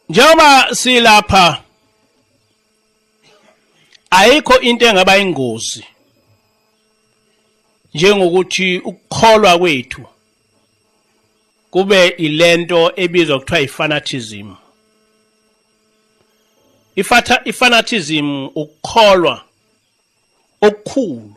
njengoba silapha ayikho into engaba ingozi njengokuthi ukukholwa kwethu kube ilento ebizwa kuthiwa ifanatism ifatha ifanatism ukukholwa okukhulu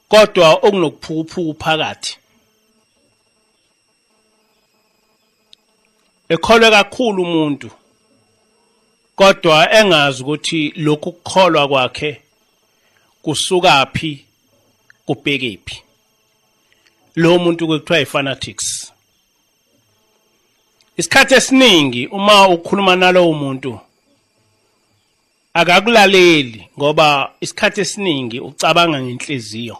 kodwa okunokuphukuphuku phakathi ekholwe kakhulu umuntu kodwa engazi ukuthi lokhu kukholwa kwakhe kusukaphi kubhekephi lo muntu kuthiwa ifanatics isikhathi esiningi uma ukhuluma nalowo muntu akakulaleli ngoba isikhathi esiningi ucabanga ngenhliziyo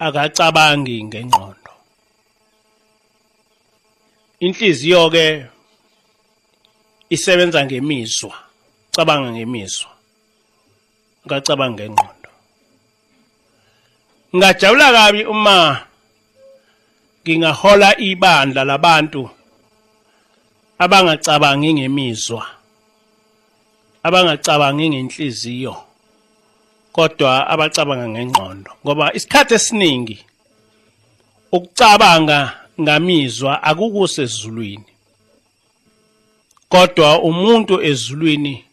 akacabangi ngengqondo inhliziyo ke isebenza ngemizwa cabanga ngemizwa ngacabanga ngengqondo ngajabula kabi uma ngingahola ibandla labantu abangacabangi ngemizwa abangacabangi ngenhliziyo kodwa abacabanga ngengqondo ngoba isikhathi esiningi ukucabanga ngamizwa akukusezulwini kodwa umuntu ezulwini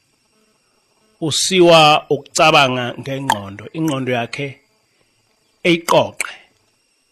usiwa ukucabanga ngengqondo ingqondo yakhe eyiqoqe